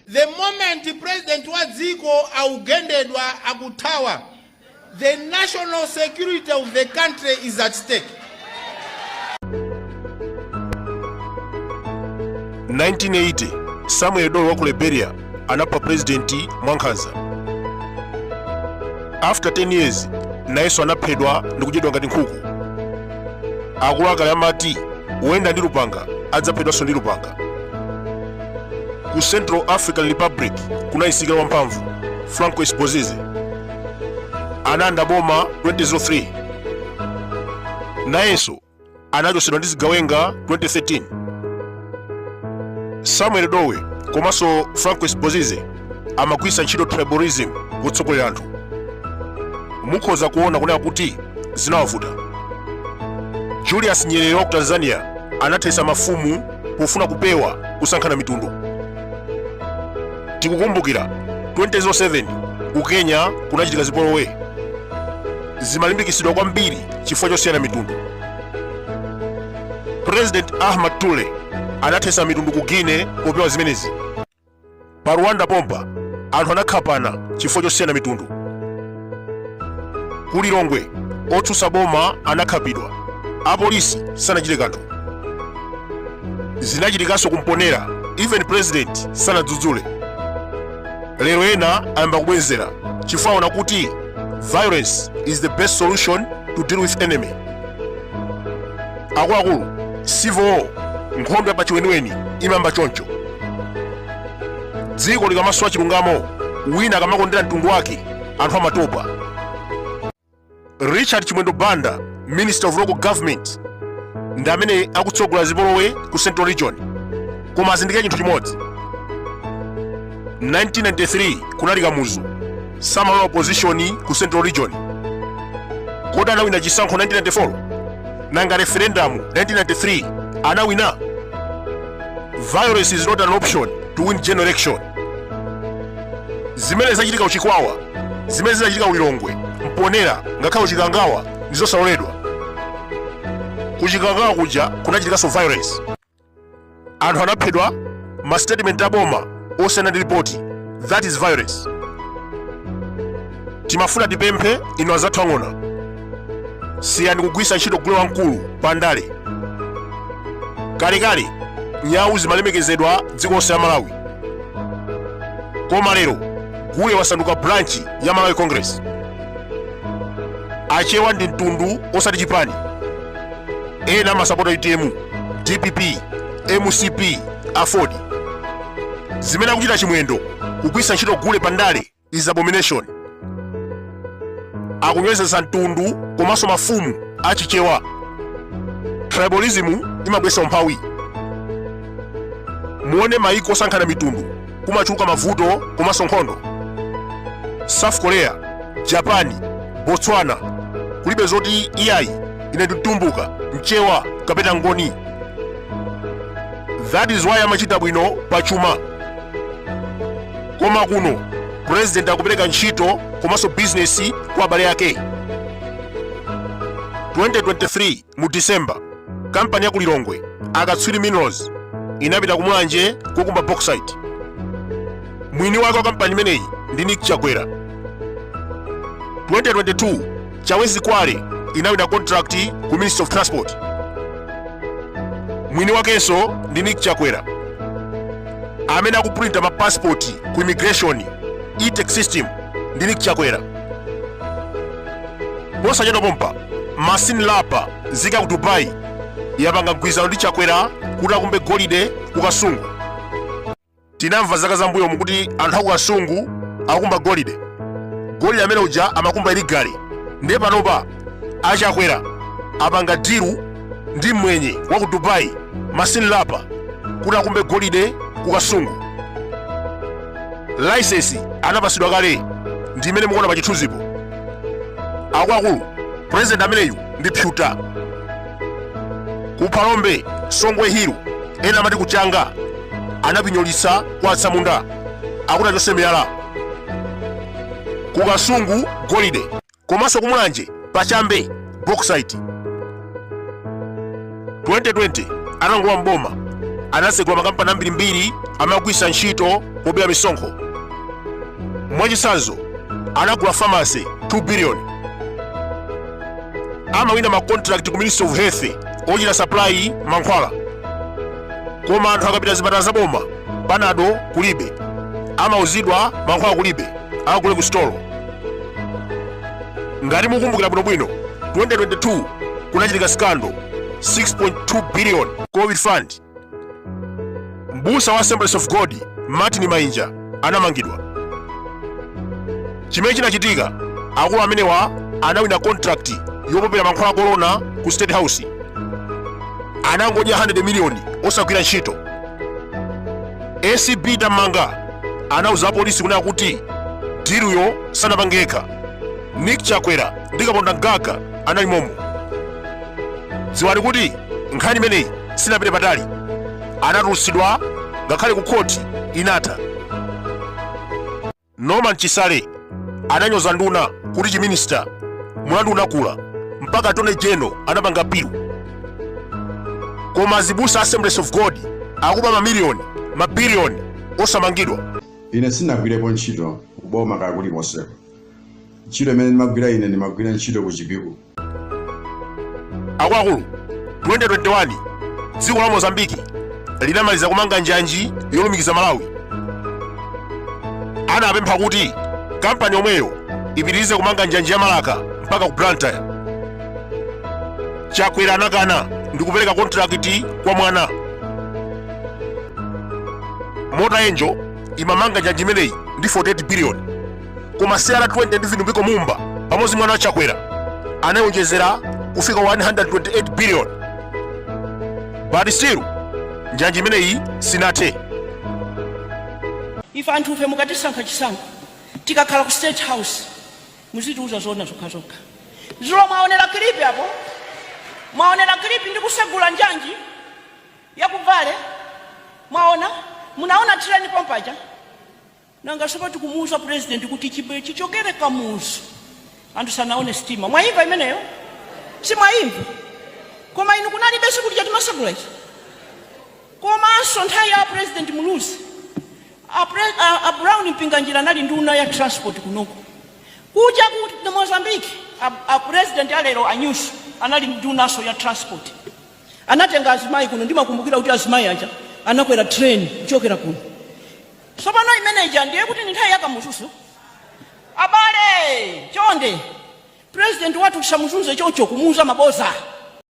The moment president wa dziko akugendedwa, akuthawa, the national security of the country is at stake. 1980 samuel doe wa ku liberia anapha purezidenti mwankhanza after 10 years nayenso anaphedwa ndi kudyedwa ngati nkhuku akuluakale amati woyenda ndi lupanga adzaphedwanso ndi lupanga ku central african republic kunayisika wamphamvu francois bozize analanda boma 2003 nayenso anachotsedwa ndi zigawenga 2013 samuel doe komanso francois bozize amagwiritsa ntchito tribalism kutsogolera anthu mukhoza kuona kunena kuti zinawavuta julius nyerere wa ku tanzania anathetsa mafumu pofuna kupewa kusankhana mitundu tikukumbukira 2007 ku kenya kunachitika zipolowe zimalimbikitsidwa kwambiri chifukwa chosiyana mitundu president ahmed toure anathesa mitundu ku guinea popewa zimenezi pa rwanda pompa anthu anakhapana chifukwa chosiyana mitundu ku lilongwe otsutsa boma anakhapidwa apolisi sanachite kanthu zinachitikanso ku mponela even president sanadzudzule lero ena ayamba kubwenzera chifukwa aona kuti violence is the best solution to deal with enemy akuluakulu civil war nkhondo ya pachiweniweni imayamba choncho dziko likamasowa chilungamo wina akamakondera mtundu wake anthu amatopa richard chimwendo banda minister of local government ndi amene akutsogola zipolowe ku central region koma azindikire chinthu chimodzi 1993 kunali kamuzu samalola opposition ku central region kodi anawina chisankho 1994 nanga referendum 1993 anawina violence is not an option to win general election zimene zachitika ku chikwawa zimene zinachitika ku lilongwe mponela ngakhale ku chikangawa ndizosaloledwa kuchikangawa kuja kunachitikanso violence anthu anaphedwa ma statement aboma osiyana ndi ripoti that is violence timafuna tipemphe inu azathu ang'ona siyani kugwisa ntchito gule wamkulu pa ndale kalekale nyawu zimalemekezedwa dziko lonse la malawi koma lero gule wasanduka branch ya malawi congress achewa ndi mtundu osati chipani ena amasapota utm dpp mcp aford zimene akuchita chimwendo kugwiritsa ntchito gule pa ndale is abomination akunyozetsa mtundu komanso mafumu achichewa tribalism imabweretsa umphawi muone maiko osankhana mitundu kumachuluka mavuto komanso nkhondo south korea japani botswana kulibe zoti iyayi ine ndi mtumbuka mchewa kapena ngoni that is why amachita bwino pa chuma koma kuno president akupereka ntchito komanso bizinesi kwa abale ake 2023 Mu December, kampani ya ku Lilongwe, Akatswiri Minerals, inapita ku Mulanje kukakumba bauxite. Mwini wake wa kampani imeneyi ndi Nick Chakwera. 2022, Chawezi Kwale inawina contract ku Ministry of Transport. Mwini wakenso ndi Nick Chakwera amene akupulinta ma passport ku immigration E-Tech Systems ndi Nick Chakwera. posachedwa pompa masin lapa nzika ya ku dubai yapanga mgwirizano ndi chakwera kuti akumbe golide ku kasungu tinamva zaka zam'mbuyomu kuti anthu aku kasungu akumba golide golide amene uja amakumba illegally nde panopa achakwera apanga diru ndi mwenye wa ku dubai masin lapa kuti akumbe golide ku kasungu laisensi anapasidwa kale ndi imene mukuona pa chithunzipo akuluakulu president ameneyu ndi phyuta kuphalombe songwe hill ena amati kuchanga anapinyolitsa kwa atsamunda akuti achotse miyala kukasungu golide komanso kumulanje pa chambe bauxite 2020 atangolowa m'boma anasegula makampani ambirimbiri amagwisa ntchito pobera misonkho mwachitsanzo anagula famasi 2 biliyoni amawina makontrakt ku ministry of health ochita supply mankhwala koma anthu akapita m'zipatala zaboma panado kulibe amauzidwa mankhwala kulibe akagule ku sitolo ngati mukumbukira bwinobwino 2022 kunachitika scandal 6.2 billion covid fund mbusa wa assemblies of god martin mainja anamangidwa chimene chinachitika akulu amenewa anawina contract yopopera mankhwala a corona ku state house anangodya 100 miliyoni osagwira ntchito acb tamanda anauza apolisi kunena kuti diluyo sanapange yekha nick chakwera ndi kaponda mgaga anali momo dziwani kuti nkhani imeneyi sinapite patali anatulutsidwa ngakhale ku khoti inatha Norman Chisale ananyoza nduna kuti chi minister mulandu unakula mpaka attorney general anapanga appeal. Koma azibusa Assemblies of God akuba mamiliyoni mabiliyoni osamangidwa. ine sindinagwirepo ntchito kuboma kaya kulikonseko ntchito imene ndimagwira ine ndimagwira ntchito ku chipiku akuluakulu 2021 dziko la mozambiki linamaliza kumanga njanji yolumikiza malawi anapempha kuti kampani yomweyo ipitirize kumanga njanji ya marka mpaka ku blantyre chakwera anakana ndi kupereka kontrakiti kwa mwana mota engil imamanga njanji imeneyi ndi 48 biliyoni koma cr20 ndi vitumbiko mumba pamodzi mwana wa chakwera anayonjezera kufika 128 billion but still njanji imeneyi sinathe ife anthu ife mukatisankha chisankho tikakhala ku state house muzitiuza zona zokhazokha zulo mwaonera kilipi apo mwaonera kilipi ndi kusegula njanji ya ku vale mwaona munaona tireni pompaja Nanga sono tikumuuza president kuti chichokere kamuzu anthu sanaone stima mwaimva imeneyo simwaimva koma inu kunalibe siku lija timasegula ichi komanso nthawi ya president muluzi a brown mpinganjira anali nduna ya transport kunoko kuja ku mozambique a, a president alero a nyusi anali ndunaso ya transport anatenga azimayi kuno ndimakumbukira kuti azimayi aja anakwera train kuchokera kuno Tsopano, imene ija ndiye kuti ndi nthawi ya Kamuzunso. Abale, chonde, Purezidenti wathu tisamuzunze choncho, kumuuza maboza.